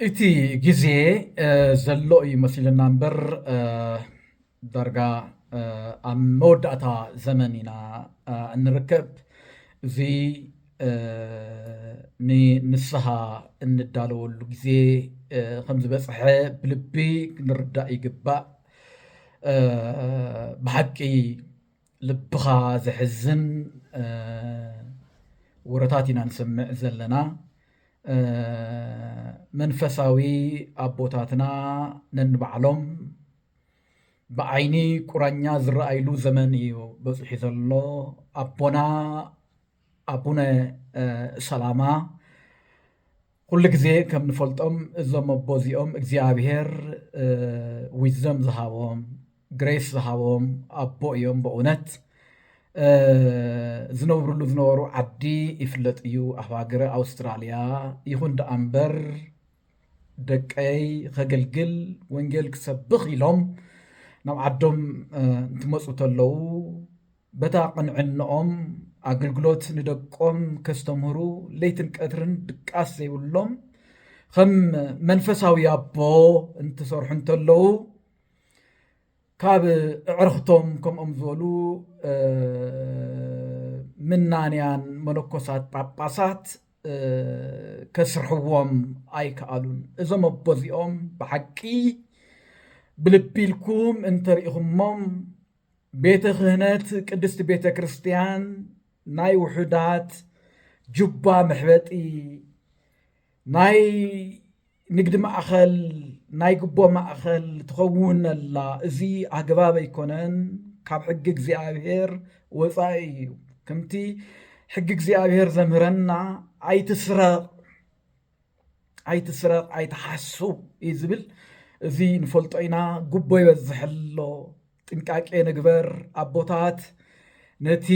እቲ ግዜ ዘሎ እዩ መሲሉና እምበር ዳርጋ ኣብ መወዳእታ ዘመን ኢና እንርከብ። እዚ ንንስሃ እንዳለወሉ ግዜ ከምዝበጽሐ ብልቢ ክንርዳእ ይግባእ። ብሓቂ ልብኻ ዘሕዝን ወረታት ኢና ንሰምዕ ዘለና መንፈሳዊ ኣቦታትና ነንባዕሎም ብዓይኒ ቁራኛ ዝረኣይሉ ዘመን እዩ በፂሑ ዘሎ ኣቦና ኣቡነ ሰላማ ኩሉ ግዜ ከም ንፈልጦም እዞም ኣቦ እዚኦም እግዚኣብሄር ዊዝደም ዝሃቦም ግሬስ ዝሃቦም ኣቦ እዮም በእውነት ዝነብርሉ ዝነበሩ ዓዲ ይፍለጥ እዩ ኣብ ሃገረ ኣውስትራልያ ይኹን ደኣ እምበር ደቀይ ከገልግል ወንጌል ክሰብኽ ኢሎም ናብ ዓዶም እንትመፁ ተለዉ በታ ቅንዕነኦም ኣገልግሎት ንደቆም ከስተምህሩ ለይትን ቀትርን ድቃስ ዘይብሎም ኸም መንፈሳዊ ኣቦ እንትሰርሑ እንተለዉ ካብ እዕርኽቶም ከምኦም ዝበሉ ምናንያን መነኮሳት ጳጳሳት ከስርሕዎም ኣይከኣሉን እዞም ኣቦዚኦም ብሓቂ ብልቢ ኢልኩም እንተርኢኹሞም ቤተ ክህነት ቅድስቲ ቤተ ክርስቲያን ናይ ውሑዳት ጁባ መሕበጢ ናይ ንግዲ ማእኸል ናይ ጉቦ ማእኸል ትኸውን ኣላ እዚ ኣግባብ ኣይኮነን ካብ ሕጊ እግዚኣብሔር ወፃኢ እዩ ከምቲ ሕጊ እግዚኣብሔር ዘምህረና ኣይትስረቕ ኣይትስረቕ ኣይትሓሱ እዩ ዝብል እዚ ንፈልጦ ኢና ጉቦ ይበዝሕ ኣሎ ጥንቃቄ ንግበር ኣቦታት ነቲ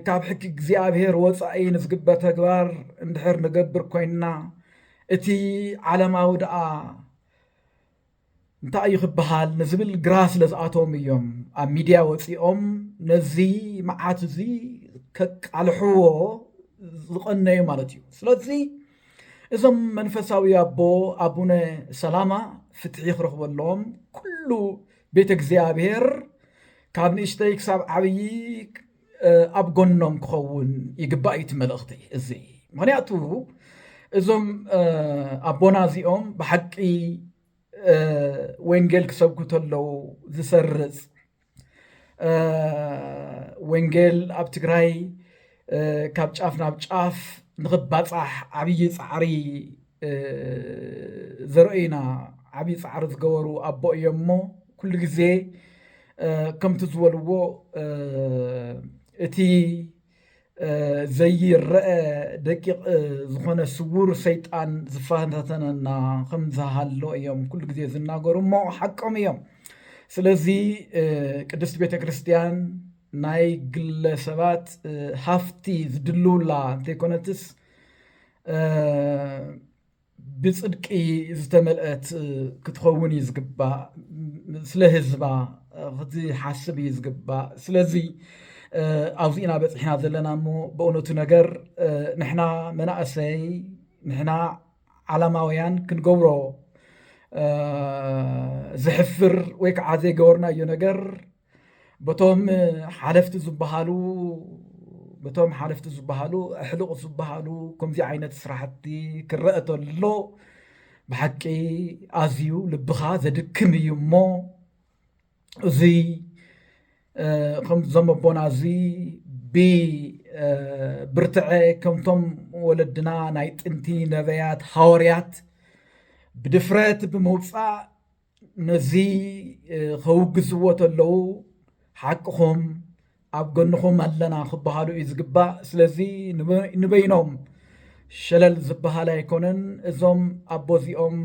ካብ ሕጊ እግዚኣብሔር ወፃኢ ንዝግበር ተግባር እንድሕር ንገብር ኮይንና እቲ ዓለማዊ ደኣ እንታይ እዩ ክበሃል ንዝብል ግራ ስለ ዝኣቶም እዮም ኣብ ሚድያ ወፂኦም ነዚ መዓት እዚ ከቃልሕዎ ዝቐነዩ ማለት እዩ ስለዚ እዞም መንፈሳዊ ኣቦ ኣቡነ ሰላማ ፍትሒ ክረኽበሎም ኩሉ ቤተ እግዚኣብሔር ካብ ንእሽተይ ክሳብ ዓብዪ ኣብ ጎኖም ክኸውን ይግባእ እዩ እቲ መልእኽቲ እዚ ምክንያቱ እዞም ኣቦና እዚኦም ብሓቂ ወንጌል ክሰብኩ ተለው ዝሰርፅ ወንጌል ኣብ ትግራይ ካብ ጫፍ ናብ ጫፍ ንኽባፃሕ ዓብዪ ፃዕሪ ዘርእዩና ዓብዪ ፃዕሪ ዝገበሩ ኣቦ እዮም እሞ ኩሉ ግዜ ከምቲ ዝበልዎ እቲ ዘይረአ ደቂቕ ዝኾነ ስውር ሰይጣን ዝፈታተነና ከም ዝሃሎ እዮም ኩሉ ግዜ ዝናገሩ እሞ ሓቆም እዮም። ስለዚ ቅድስት ቤተ ክርስቲያን ናይ ግለ ሰባት ሃፍቲ ዝድልውላ እንተይኮነትስ ብጽድቂ ዝተመልአት ክትኸውን እዩ ዝግባእ ስለ ህዝባ ክትሓስብ እዩ ዝግባእ ስለዚ ኣብዚ ኢና በፂሕና ዘለና እሞ በእውነቱ ነገር ንሕና መናእሰይ ንሕና ዓላማውያን ክንገብሮ ዝሕፍር ወይ ከዓ ዘይገበርናዮ ነገር በቶም ሓለፍቲ ዝበሃሉ በቶም ሓለፍቲ ዝበሃሉ ኣሕልቑ ዝበሃሉ ከምዚ ዓይነት ስራሕቲ ክረአ ተሎ ብሓቂ ኣዝዩ ልብኻ ዘድክም እዩ እሞ እዙይ ከምዞም ኣቦና እዚ ብብርትዐ ከምቶም ወለድና ናይ ጥንቲ ነበያት ሃወርያት ብድፍረት ብምውፃእ ነዚ ከውግዝዎ ተለው ሓቅኹም ኣብ ጎንኹም ኣለና ክበሃሉ እዩ ዝግባእ። ስለዚ ንበይኖም ሸለል ዝበሃል ኣይኮነን። እዞም ኣቦ እዚኦም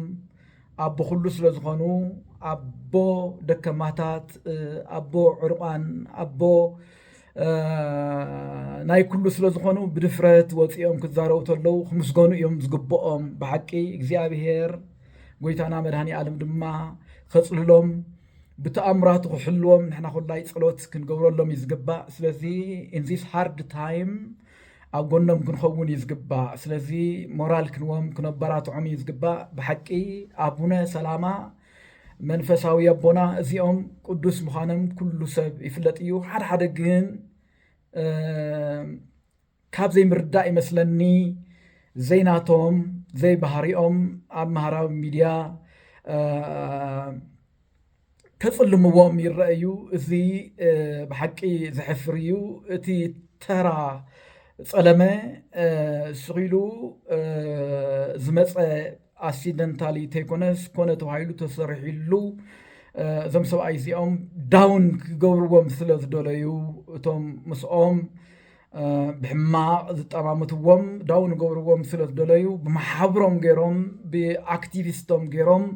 ኣቦ ኩሉ ስለ ዝኾኑ ኣቦ ደከማታት፣ ኣቦ ዕርቋን፣ ኣቦ ናይ ኩሉ ስለ ዝኾኑ ብድፍረት ወፂኦም ክዛረቡ ተለው ክምስገኑ እዮም ዝግብኦም ብሓቂ እግዚኣብሄር ጎይታና መድኃኔዓለም ድማ ኸጽልሎም ብተኣምራቱ ክሕልዎም ንሕና ኩላይ ጸሎት ክንገብረሎም እዩ ዝግባእ ስለዚ ኢንዚስ ሃርድ ታይም ኣብ ጎኖም ክንኸውን እዩ ዝግባእ ስለዚ ሞራል ክንዎም ክነበራትዖም እዩ ዝግባእ ብሓቂ ኣቡነ ሰላማ መንፈሳዊ ኣቦና እዚኦም ቅዱስ ምዃኖም ኩሉ ሰብ ይፍለጥ እዩ ሓደ ሓደ ግን ካብ ዘይምርዳእ ይመስለኒ ዘይናቶም ዘይባህሪኦም ኣብ ማህራዊ ሚድያ ከፅልምዎም ይረኣዩ። እዚ ብሓቂ ዘሕፍር እዩ። እቲ ተራ ፀለመ ስኺሉ ዝመፀ ኣክሲደንታሊ ተይኮነስ ኮነ ተባሂሉ ተሰሪሒሉ እዞም ሰብኣይ እዚኦም ዳውን ክገብርዎም ስለ ዝደለዩ እቶም ምስኦም ብሕማቕ ዝጠማምትዎም ዳው ንገብርዎም ስለ ዝደለዩ ብማሓብሮም ገይሮም ብኣክቲቪስቶም ገይሮም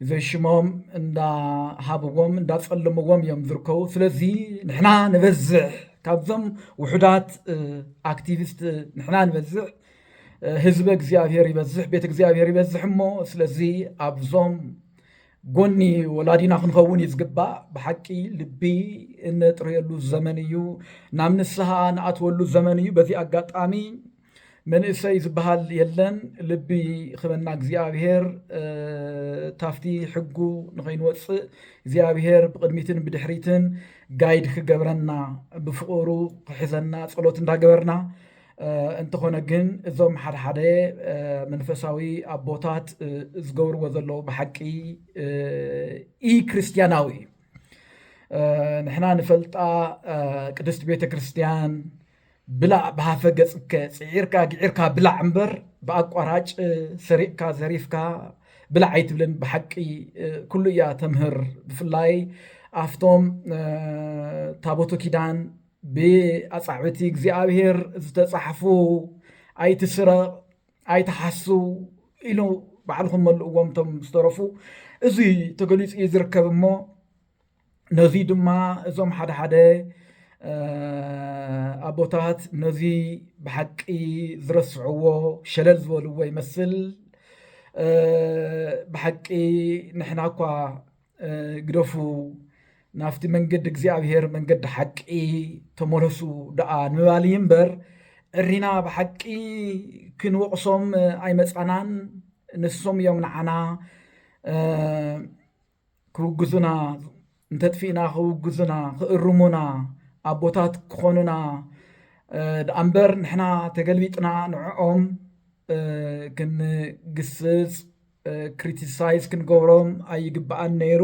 ዘይሽሞም እንዳሃብዎም እንዳፀልምዎም እዮም ዝርከቡ ስለዚ ንሕና ንበዝሕ ካብዞም ውሑዳት ኣክቲቪስት ንሕና ንበዝሕ ህዝበ እግዚኣብሔር ይበዝሕ ቤተ እግዚኣብሔር ይበዝሕ እሞ ስለዚ ኣብዞም ጎኒ ወላዲና ክንኸውን እዩ ዝግባእ። ብሓቂ ልቢ እነጥርየሉ ዘመን እዩ፣ ናብ ንስሃ ንኣትወሉ ዘመን እዩ። በዚ ኣጋጣሚ መንእሰይ ዝበሃል የለን፣ ልቢ ክበና እግዚኣብሔር ታፍቲ ሕጉ ንኸይንወፅእ እግዚኣብሔር ብቕድሚትን ብድሕሪትን ጋይድ ክገብረና ብፍቕሩ ክሕዘና ጸሎት እንዳገበርና እንተኾነ ግን እዞም ሓደሓደ መንፈሳዊ ኣቦታት ዝገብርዎ ዘለዉ ብሓቂ ኢ ክርስትያናዊ እዩ ንሕና ንፈልጣ ቅድስቲ ቤተ ክርስትያን ብላዕ ብሃፈ ገፅከ ፅዒርካ ግዒርካ ብላዕ እምበር ብኣቋራጭ ሰሪቕካ ዘሪፍካ ብላዕ ኣይትብልን ብሓቂ ኩሉ እያ ተምህር ብፍላይ ኣብቶም ታቦቱ ኪዳን ብኣጻብዕቲ እግዚኣብሔር ዝተጻሕፉ ኣይትስረቕ ኣይትሓሱ ኢሉ ባዕልኹም መልእዎም እቶም ዝተረፉ እዚ ተገሊጹ እዩ ዝርከብ እሞ ነዚ ድማ እዞም ሓደ ሓደ ኣቦታት ነዚ ብሓቂ ዝረስዕዎ ሸለል ዝበልዎ ይመስል ብሓቂ ንሕና እኳ ግደፉ ናፍቲ መንገዲ እግዚኣብሔር መንገዲ ሓቂ ተመለሱ ደኣ ንባል እዩ እምበር ዕሪና ብሓቂ ክንወቕሶም ኣይመፃናን ንሶም እዮም ንዓና ክውግዙና እንተጥፊእና ክውግዙና ክእርሙና ኣቦታት ክኾኑና ደኣ እምበር ንሕና ተገልቢጥና ንዕኦም ክንግስፅ ክሪቲሳይዝ ክንገብሮም ኣይግባኣን ነይሩ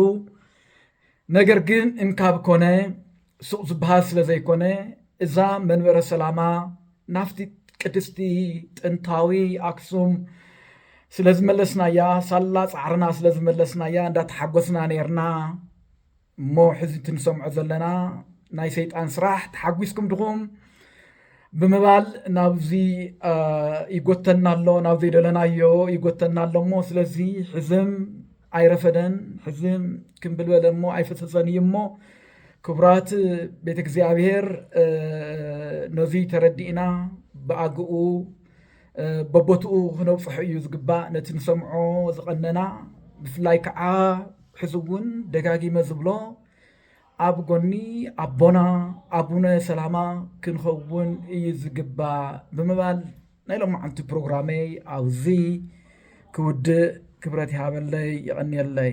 ነገር ግን እንካብ ኮነ ሱቕ ዝበሃል ስለ ዘይኮነ እዛ መንበረ ሰላማ ናፍቲ ቅድስቲ ጥንታዊ ኣክሱም ስለ ዝመለስናያ ሳላ ፃዕርና ስለ ዝመለስናያ እንዳተሓጎስና ነርና እሞ ሕዚ እቲ ንሰምዖ ዘለና ናይ ሰይጣን ስራሕ ተሓጒስኩም ድኹም ብምባል ናብዚ ይጎተና ኣሎ ናብ ዘይደለናዮ ይጎተና ኣሎ እሞ ስለዚ ሕዝም ኣይረፈደን ሕዝም ክንብልበለ እሞ ኣይፈሰሰን እዩ እሞ ክቡራት ቤተ እግዚኣብሔር ነዙይ ተረዲእና ብኣግኡ በቦትኡ ክነብፅሖ እዩ ዝግባእ ነቲ ንሰምዖ ዝቐነና ብፍላይ ከዓ ሕዚ እውን ደጋጊመ ዝብሎ ኣብ ጎኒ ኣቦና ኣቡነ ሰላማ ክንኸውን እዩ ዝግባእ ብምባል ናይ ሎማዓንቲ ፕሮግራመይ ኣብዚ ክውድእ ክብረት ይሃበለይ ይቐንየለይ